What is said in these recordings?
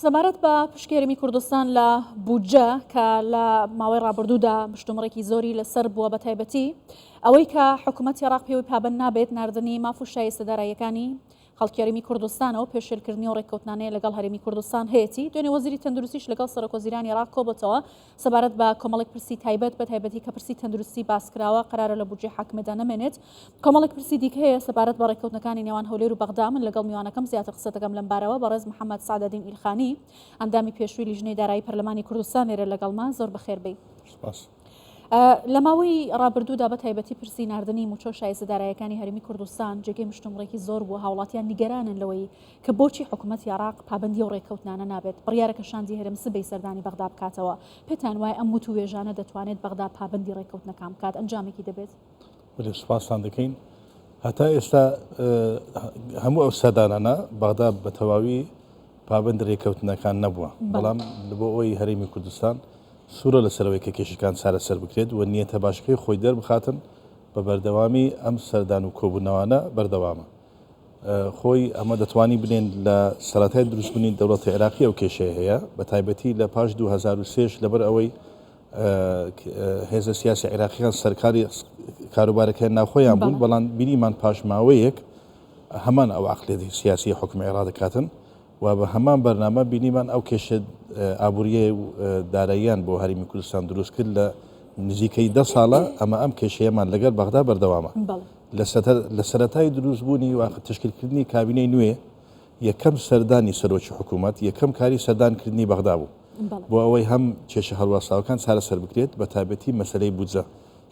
سەبارەت بە پشکێرمی کوردستان لە بودجە کە لە ماوەی ڕابردوودا مشتومڕێکی زۆری لەسەر بووە بە تایبەتی ئەوەی کە حکوومەت عێراق پێوەی پابند نابێت نردنی ماف و شایستە داراییەکانی خەڵکیێرمی کوردستانەوە پێشێلکردنی و ڕێککەوتنانەیە لەگەڵ هەرێمی کوردستان هەیەی دوێنێ وەزیری تەندروستیش لەگەڵ سەرۆکۆزیرانی عراق کۆبەتەوە سەبارەت بە کۆمەڵێک پرسی تایبەت بە تایبەتی کە پرسی تەندروستی باسکراوە قەرارە لە بودجەی حاکمێدا نەمێنێت کۆمەڵێک پرسی دیکە هەیە سەبارەت بە ڕێککەوتنەکانی نێوان هەولێر و بەغدا من لەگەڵ میوانەکەم زیاتر قسە دەکەم لەم بارەوە بەڕێز محەممەد سەعدەدین ئیلخانی ئەندامی پێشووی لیژنەی دارایی پەرلەمانی کوردستان لێرە لەگەڵمە زۆر بەخێر بێی سپاس. لە ماوەی ڕابردوودا بە تایبەتی پرسی ناردنی موچە و شایستە دارایەکانی هەرێمی کوردستان جێگەی مشتومڕێکی زۆر بووە هاوڵاتیان نیگەرانن لەوەی کە بۆچی حکومەتی عێراق پابەندی ئەو ڕێککەوتنانە نابێت، بڕیارەکە شاندی هەرێم سبەی سەردانی بەغدا بکاتەوە، پێتان وایە ئەم وتووێژانە دەتوانێت بەغدا پابەندی ڕێککەوتنەکان بکات، ئەنجامێکی دەبێت؟ بەلێ سوپاستان دەکەین. هەتا ئێستا هەموو ئەو سەردانانە بەغدا بە تەواوی پابەندی ڕێککەوتنەکان نەبووە، بەڵام بۆ ئەوەی هەرێمی کوردستان سوورە لەسەرەوەی کە کێشەکان چارەسەر بکرێت و نیەتە باشەکەی خۆی دەربخاتن، بە بەردەوامی ئەم سەردان و کۆبوونەوانە بەردەوامە. خۆی ئەمە دەتوانی بلێن لە سەرەتای دروست بونی دەوڵەتی عێراقی ئەو کێشەیە هەیە بە تایبەتی لە پاش 2023 ش لەبەر ئەوەی هێزە سیاسی عێراقیان سەرکاری کاروبارەکەیان ناوخۆیان بوون بەڵام بینیمان پاشماوەیەک هەمان ئەو عقلێتی سیاسی حکومی عێرا دەکاتن و بە هەمان بەرنامە بینیمان ئەو کێشە ئابووریە داراییان بۆ هەرمی کوردستان دروست کرد لە نزیکەی ده ساڵە ئەمە ئەم کێشەیەمان لەگەر بەغدا بەردەوامە لە سەرەتای دروستبوونی و تشکیلکردنی کابینەی نوێ، یەکەم سەردانی سەرۆکی حکوومەت، یەکەم کاری سەردانکردنی بەغدا بوو، بۆ ئەوەی هەم کێشە هەڵواسراوەکان چارەسەر بکرێت، بەتایبەتی مەسەلەی بودجە،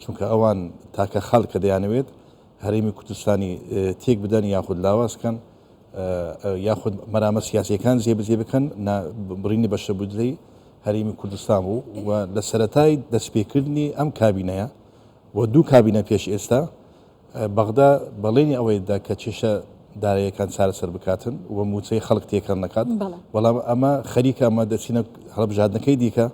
چونکە ئەوان تاکە خەڵکە دەیانەوێت هەرێمی کوردستانی تێک بدەن یاخود لاواز بکەن، یاخود مەرامە سیاسییەکان جێبەجێ بکەن، بڕینی بەشە بودجەی هەرێمی کوردستان بوو و لە سەرەتای دەستپێکردنی ئەم کابینەیە، و دوو کابینە پێش ئێستا، بەغدا بەڵێنی ئەوەی دا کە کێشە داراییەکان چارەسەر بکاتن و مووچەی خەڵک تێکەڵ نەکات، بەڵام ئەمە خەریکە ئەمە دەچینە هەڵبژاردنەکەی دیکە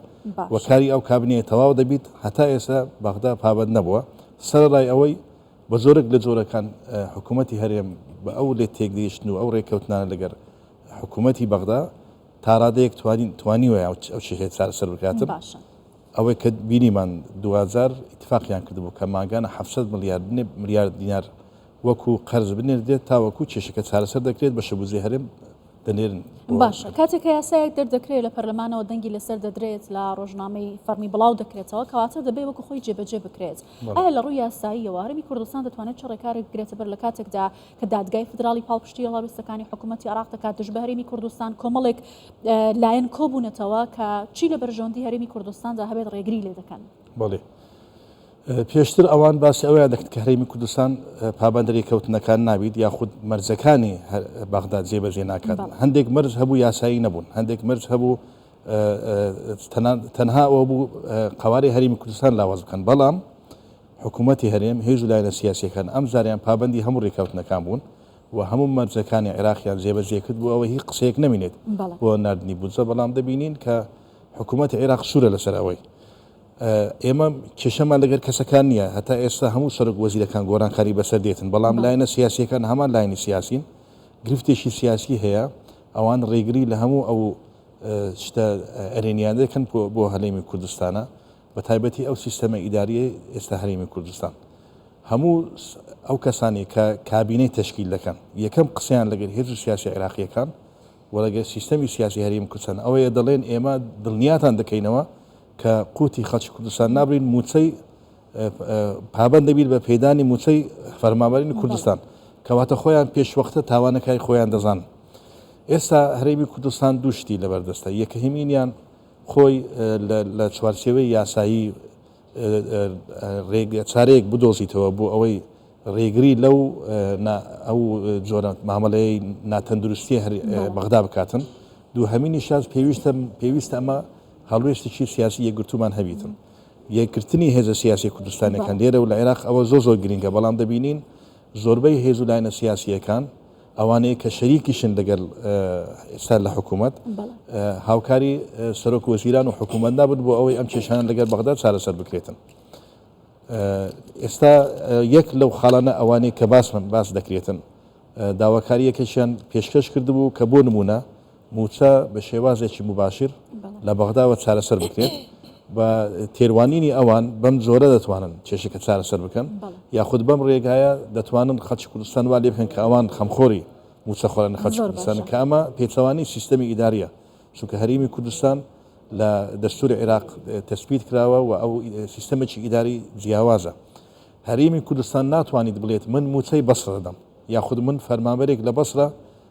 و کاری ئەو کابینەیە تەواو دەبیت، هەتا ئێستا بەغدا پابەند نەبووە سەرەڕای ئەوەی بە جۆرێک لە جۆرەکان حکوومەتی هەرێم بە ئەو لێکتێگەیشتن و ئەو رێککەوتنانە لەگەر حکوومەتی بەغدا تاڕادەیەک توانیویە ئەو کێشەیە چارەسەر بکاتن. ئەوەی کە بینیمان دواجار ئیتفاقیان کردبوو کە مانگانە حەفت سەد ملیار ملیار دینار وەکو قەرز بنێردرێت تاوەکو کێشەکە چارەسەر دەکرێت بەشە بودجەی هەرێم دەنێرن باشە کاتێک کە یاسایەک دەردەکرێت لە پەرلەمانەوە دەنگی لەسەر دەدرێت لە ڕۆژنامەی فەرمی بڵاو دەکرێتەوە کەواتە دەبێت وەکو خۆی جێبەجێ بکرێت ئایا لە ڕووی یاساییەوە هەرمی کوردستان دەتوانێت چ ڕێکارێک بگرێتە بەر لە کاتێکدا کە دادگای فیدراڵی پاڵپشتی هەڵوێستەکانی حکوومەتی عێراق دەکات دژ بە هەرێمی کوردستان، کۆمەڵێک لایەن کۆبوونەتەوە کە چی لە بەرژەوەندی هەرێمی کوردستاندا هەبێت ڕێگری لێ دەکەن. بەڵێ. پێشتر ئەوان باسی ئەویان دەکرد کە هەرێمی کوردستان پابەندە رێککەوتنەکان نابیت یاخود مەرجەکانی بەغدا جێبەجێ ناکات. بەڵێ. هەندێک مەرج هەبوو یاسایی نەبوون، هەندێک مەرج هەبوو تەنها ئەوە بوو قەوارەی هەرێمی کوردستان لاواز بکەن، بەڵام حکوومەتی هەرێم، هێز و لایەنە سیاسییەکان ئەمجارەیان پابەندی هەموو رێککەوتنەکان بوون و هەموو مەرجەکانی عێراقیان جێبەجێ کرد بۆ ئەوەی هیچ قسەیەک نەمینێت بۆ ناردنی بودجە، بەڵام دەبینین کە حکوومەتی عێراق سوورە لەسەر ئەوەی. ئێمە کێشەمان لەگەر کەسەکان نییە، هەتا ئێستا هەموو سەرۆک وەزیرەکان گۆڕانکاری بەسەر دێتن، بەڵام لایەنە سیاسییەکان هەمان لایەنی سیاسین، گرفتێکی سیاسی هەیە، ئەوان رێگری لە هەموو ئەو شتە ئەرێنییانە دەکەن بۆ هەرێمی کوردستانە، بە تایبەتی ئەو سیستەمە ئیدارییەی ئێستا هەرێمی کوردستان هەموو ئەو کەسانی کە کابینەی تەشکیل دەکەن یەکەم قسەیان لەگەر هێرش سیاسی عێراقیەکان و لەگەر سیستەمی سیاسی هەریم کوردستان ئەوەیە دەڵێن ئێمە دڵنیاتان دەکەینەوە کە قوتی خەڵکی کوردستان نابرین موچەی پابند دەبیت بە پێدانی موچەی فەرمابەرین کوردستان کەواتە خۆیان پێشوەختە تاوانەکای خۆیان دەزان ئێستا هەرێمی کوردستان دووشتی لەبەردەستە یەکەهمینیان خۆی لە چوارچێوەی یاسایی رێگە چارەیەک بدۆزیتەوە بۆ ئەوەی رێگری لەو ئەو جۆرە مامەلەی ناتەندروستیە هەر بەغدا بکاتن دووهەمینی شاز پێویستە پێویستە ئەمە هەڵوێستێکی سیاسی یەکگرتومان هەبیتن یەکگرتنی هێزە سیاسی کوردستانەکان لێرە و لە عێراق ئەوە زۆ زۆر گرنگە بەڵام دەبینین زۆربەی هێز و لایەنە سیاسیەکان ئەوانەی کە شەریکیشن لەگەل ئێستا لە حکوومەت هاوکاری سەرۆک وەزیران و حکوومەت نابن بۆ ئەوەی ئەم کێشانە لەگەر بەغدا چارەسەر بکرێتن. ئێستا یەک لەو خاڵانە ئەوانەی کە باسمن باس دەکرێتن داواکاریەکەشیان پێشکەش کردبوو کە بۆ نمونە مووچە بە شێوازێکی موباشیر لە بەغداوە چارەسەر بکرێت، بە تێروانینی ئەوان بەم جۆرە دەتوانن کێشەکە چارەسەر بکەن، یاخود بەم رێگایە دەتوانن خەڵکی کوردستان وا لێبکەن کە ئەوان خەمخۆری مووچەخۆرن لە خەڵکی کوردستانن، کە ئەمە پێچەوانەی سیستەمی ئیدارییە، چونکە هەرێمی کوردستان لە دەستووری عێراق تەسبیت کراوە و ئەو سیستەمێکی ئیداری جیاوازە، هەرێمی کوردستان ناتوانیت بڵێت من مووچەی بەسڕە دەدەم، یاخود من فەرمانبەرێک لە بەسڕە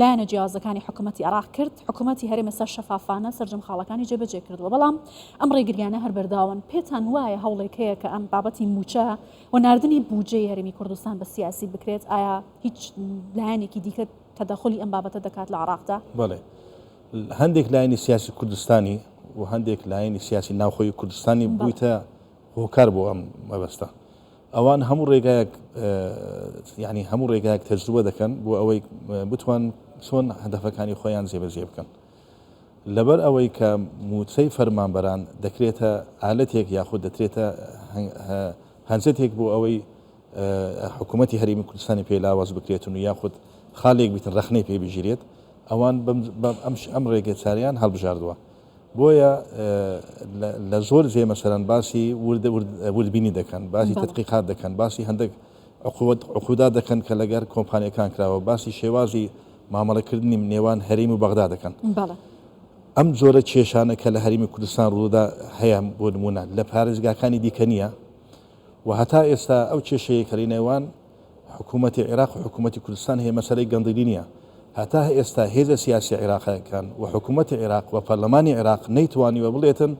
لایەنە جیاوازەکانی حکومەتی عێراق کرد، حکومەتی هەرێم ئێستا شەفافانە سەرجەم خاڵەکانی جێبەجێ کردووە، بەڵام ئەم ڕێگرییانە هەر بەردەواون، پێتان وایە هەوڵێک هەیە کە ئەم بابەتی مووچە و ناردنی بودجەی هەرێمی کوردستان بە سیاسی بکرێت، ئایا هیچ لایەنێکی دیکە تەدەخولی ئەم بابەتە دەکات لە عێراقدا؟ بەڵێ، هەندێک لایەنی سیاسی کوردستانی و هەندێک لایەنی سیاسی ناوخۆی کوردستانی بوویتە هۆکار بۆ ئەم مەبەستە ئەوان هەموو ڕێگایەک یعنی هەموو ڕێگایەک تەجروبە دەکەن بۆ ئەوەی بتوان چۆن هەدەفەکانی خۆیان جێبەجێ بکەن لەبەر ئەوەی کە موچەی فەرمانبەران دەکرێتە ئالەتێک یاخود دەترێتە هەنجەتێک بۆ ئەوەی حکوومەتتی هەرمی کوردستانی پێ لاواز بکرێتن و یاخود خاڵێک بیتن ڕخنەی پێ بگیرێت ئەوان ئەم ڕێگە چاریان هەڵبژاردووە بۆیە لە زۆر جێ مەسەلەن باسی ورد ورد وردبینی دەکەن، باسی بەڵێ تەدقیقات دەکەن، باسی هەندێک عقوبەت عقودا دەکەن کە لەگەر کۆمپانیەکان کراوە، باسی شێوازی مامەڵەکردنی نێوان هەرێم و بەغدا دەکەن. بەڵێ. ئەم جۆرە کێشانە کە لە هەرێمی کوردستان ڕوودا هەیە بۆ نموونە لە پارێزگاکانی دیکە نییە و هەتا ئێستا ئەو کێشەیە کە لەنێوان حکوومەتی عێراق و حکوومەتی کوردستان هەیە مەسەلەی گەندیلی نییە. هەتا ئێستا هێزە سیاسییە عێراقییەکان و حکوومەتی عێراق و پەرلەمانی عێراق نەیتوانیوە بڵێتن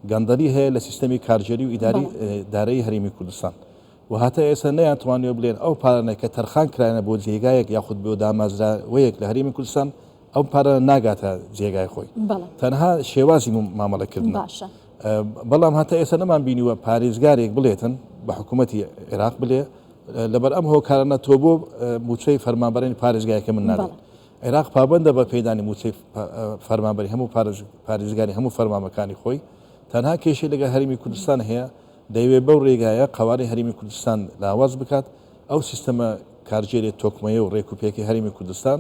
گەندەلی هەیە لە سیستەمی کارگێری و ئیداری دارایی هەرێمی کوردستان و هەتا ئێستا نەیانتوانیوە بڵێن ئەو پارانە کە تەرخان کراینە بۆ جێگایەک یاخود بۆ دامەزراوەیەک لە هەرێمی کوردستان ئەو پارە ناگاتە جێگای خۆی تەنها شێوازی مامەڵە کردن باشە بەڵام هەتا ئێستا نەمان بینیوە پارێزگارێک بڵێتن بە حکوومەتتی عێراق بلێ لەبەر ئەم هۆکارانە تۆ بۆ موچەی فەرمانبەرێن پارێزگایەکە من ناڵێت عێراق پابندە بە پێدانی موچەی فەرمانبەری هەموو پارێزگاری هەموو فەرمامەکانی خۆی تەنها کێشی لەگە هەرمی کوردستان هەیە دەیەوێ بەو ڕێگایە قوارەی هەرمی کوردستان لاواز بکات ئەو سیستەمە کارژێری تۆکمەیە و ڕێکوپێکی هەرمی کوردستان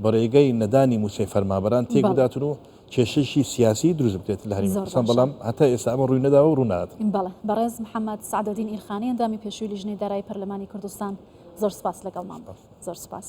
بەڕێگەی نەدانی موچەی فەرمابەران تێک بداتن و کێشەیشی سیاسی دروست بکرێت لە هەرێمی کوردستان بەڵام هەتا ئێستا ئەمە ڕووی نەداوە و ڕوو نادات. بەڵێ بەڕێز محەمەد سەعدەدین ئیلخانی ئەندامی پێشووی لیژنەی دارایی پەرلەمانی کوردستان زۆر سوپاس لەگەڵمان بوو. زۆر سوپاس.